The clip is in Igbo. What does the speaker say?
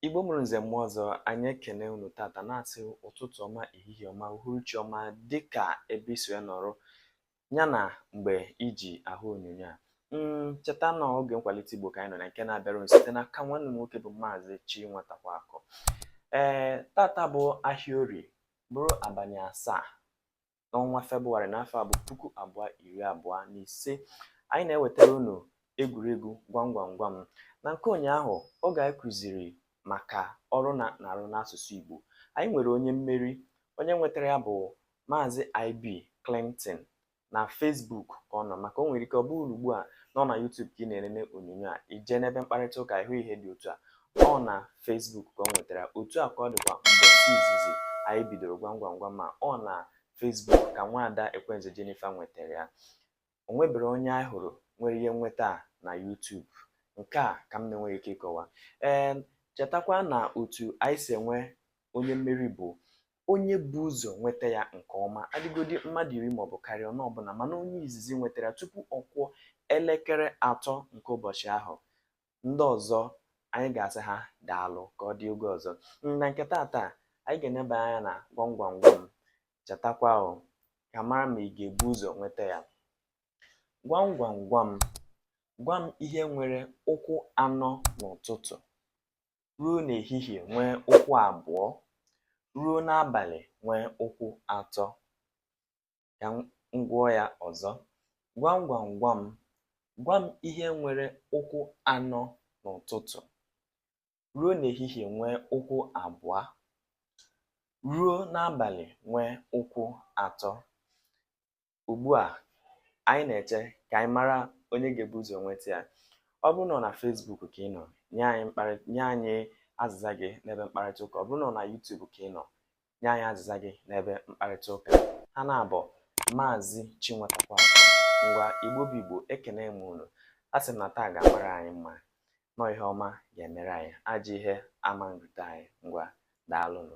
Igbo mụrụ nze mụọ ọzọ anyị ekene unu tata na-asị ụtụtụ ọma ehihie ọma uhuruchi ọma dịka ebe i si ya nọrọ ya na mgbe i ji ahụ onyonyo a mm, cheta na oge nkwalite Igbo ka anyị nọ na nke na-abịara unu site n'aka nwanne unu nwoke bụ maazị Chinwatakwaakụ ee tata bụ ahịa orie bụrụ abalị asaa n'ọnwa Febụwarị n'afọ a bụ puku abụọ iri abụọ na ise anyị na-ewetara unu egwuregwu gwam gwam gwam na nke ụnyaahụ oge anyị kụziri maka ọrụ na na-arụ n'asụsụ Igbo anyị nwere onye mmeri onye nwetara ya bụ Maazị IB Clinton na Facebook ka ọ nọ maka o nwere ike ọ bụrụ ugbu a na ọ na YouTube ka ị na-elele onyonyo a i jee n'ebe mkparịta ụka ị hụ ihe dị otu a ọ na Facebook ka o nwetara otu a ka ọ dịkwa mbọsị izizi anyị bidoro gwam gwam gwam ma ọ na Facebook ka nwaada Ekwenze Jennifer nwetara ya o nwebere onye anyị hụrụ nwere ike nweta a na YouTube nke a ka m na-enweghị ike ịkọwa ee chetakwa na otu anyị si enwe onye mmeri bụ onye bu ụzọ nweta ya nke ọma ha dịgodi mmadụ iri maọbụ karịa ọnụ ọbụla mana onye izizi nwetara tupu ọ kụọ elekere atọ nke ụbọchị ahụ ndị ọzọ anyị ga-asị ha daalụ ka ọ dị oge ọzọ na nke taata anyị ga-eneba anya na gwam gwam gwam chetakwa o ka a mara ma ị ga-ebu ụzọ nweta ya gwam gwam gwam gwa m ihe nwere ụkwụ anọ n'ụtụtụ ruo n'ehihie nwee ụkwụ abụọ ruo n'abalị nwee ụkwụ atọ ka m gụọ ya ọzọ gwam gwam gwam gwa m ihe nwere ụkwụ anọ n'ụtụtụ ruo n'ehihie nwee ụkwụ abụọ ruo n'abalị nwee ụkwụ atọ ugbu a anyị na-eche ka anyị mara onye ga-ebu ụzọ nweta ya ọ bụrụ na ọ na Facebook ka ị nọ nye anyị azịza gị n'ebe mkparịta ụka ọ bụrụ na ọ na YouTube ka ị nọ nye anyị azịza gị n'ebe mkparịta ụka aha m na-abụ maazị Chinwatakwaakụ ngwa igbo bụ igbo ekene m unu a sị m na taa ga-amara anyị mma na ọ ihe ọma ga-emere anyị ajọ ihe ama nrute anyị ngwa daalụnụ